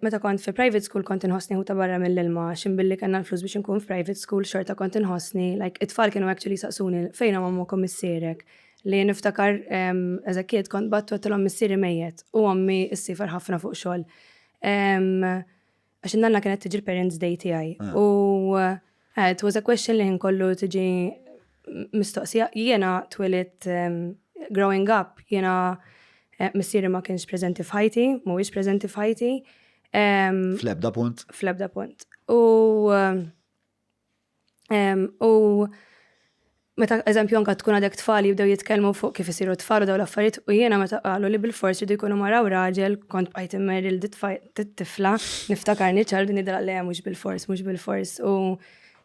Meta kont fi private school kont inħossni ħuta barra mill-ilma għax imbilli kellna l-flus biex inkun f'private school xorta kont inħossni like it-tfal kienu actually jsaqsuni fejnhom ommok u missierek li niftakar as a kid kont battu għattilhom missieri mejjet u ommi issiefer ħafna fuq xogħol. Għax in-nanna kienet tiġi l-parents day tiegħi. Ah. U It was a question li ħin kollu tiġi mistoqsija. Jiena twilidt growing up jiena missieri ma kienx preżenti f'ħajti, mhuwiex preżenti f'ħajti. Fl-ebda punt. Fl-ebda punt. U u Meta, eżempju, anke tkun għadek tfal jibdew jitkellmu fuq kif isiru tfal u dawn l-affarijiet u jiena meta qalu li bilfors jridu jkunu mara u raġel kont bqajt immerri lil dit-tifla, niftakarni ċar u din ngħidilha le mhux bilfors, mhux bilfors u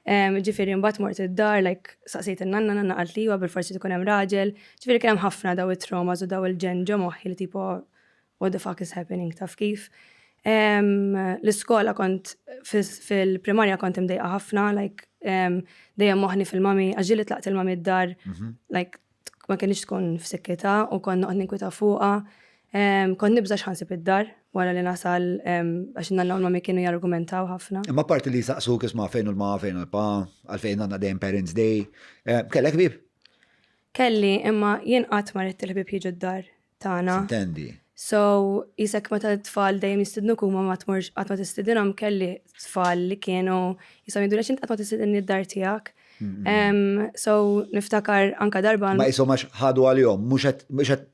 ġifieri mbagħad mort id-dar like staqsejt in-nanna, nanna qalt li iva bilfors irid ikun hemm raġel. Ġifieri kien hemm ħafna dawn it-traumas u dawn il-ġenn ġo moħħi li tipo what the fuck is happening taf kif. L-iskola kont fil-primarja kont imdejqa ħafna, like dejjem moħni fil-mami, għaġili tlaqt il-mami d-dar, mhm. like ma kienx tkun f'sikkita u konna qed ninkwita fuqha. Kont nibża x'ħansib id-dar wara li nasal għax nanna u mami kienu jargumentaw ħafna. Imma parti li saqsu kisma fejn u l-ma fejn u l-pa, għalfejn għandna dejjem Parents Day. Kellek bib? Kelli, imma jien qatt ma rrid il-ħbib jiġu d-dar. tagħna. X'intendi? So, jisek meta t-tfal dejjem jistidnu kuma ma tmorx qatt ma tistidinhom kelli tfal li kienu jisom jidulek int qatt ma tistidinni d-dar tiegħek. So, niftakar anka darba. Ma jisom għax ħadu għal-jom, mhux qed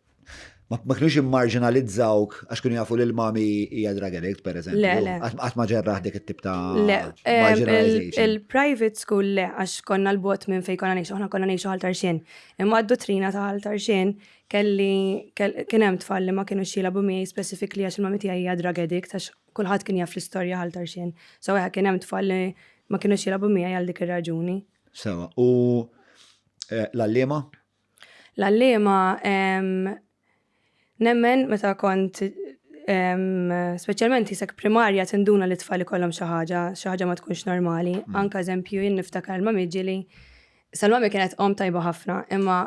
ma kienux immarġinalizzawk għax kienu jafu li l-mami hija drug addict, per eżempju. Le, le. Għat ma ġerraħ dik it-tip ta' marginalization. Il-private school le, għax konna l-bot minn fej konna nejxu, ħna konna nejxu għal tarxin. Imma d-dottrina ta' għal tarxin Kelli kien hemm tfal li ma kinux jilagħbu miegħi specifically għax il-mami tiegħi hija drug addict għax kulħadd kien jaf l-istorja ħal tarxien. So eħe kien hemm tfal li ma kinux jilagħbu miegħi għal dik ir-raġuni. Sewa, u eh, l-allima? L-allima nemmen meta kont speċjalment jisek primarja tinduna li tfal ikollhom xi ħaġa, xi ħaġa ma tkunx normali. Mm. Anka eżempju jien niftakar ma miġili Salmami kienet om tajba ħafna, imma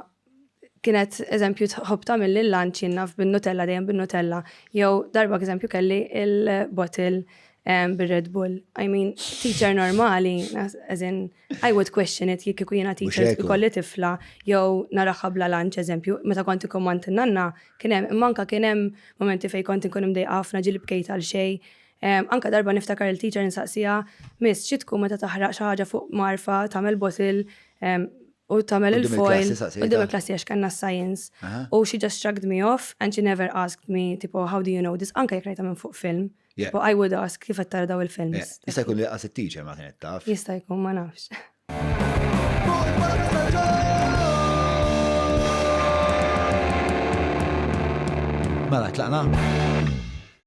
kienet eżempju tħobb tagħmel lil lunch jinnaf bin-Nutella dejjem bin-Nutella jew darba eżempju kelli il-bottle ehm, bir-Red Bull. I mean, teacher normali, as in, I would question it jekk ikun jiena teacher ikolli tifla jew naraħħa bla lunch eżempju, meta kont ikkommand nanna kien hemm imma anke kien hemm momenti fejn kont inkun imdejqa ħafna ġieli bkejt għal xejn. Ehm, anke darba niftakar il-teacher insaqsija, miss, xi tkun meta taħraq xi ħaġa fuq marfa tagħmel bottle ehm, u tagħmel il-foil quddiem il-klassi għax kellna science u she just shrugged me off and she never asked me tipo how do you know this anke jekk rajta minn fuq film. Tipo I would ask kif qed tara daw il-films. Jista' jkun li qas it-teacher ma kienet taf. Jista' jkun ma nafx. Mela tlaqna.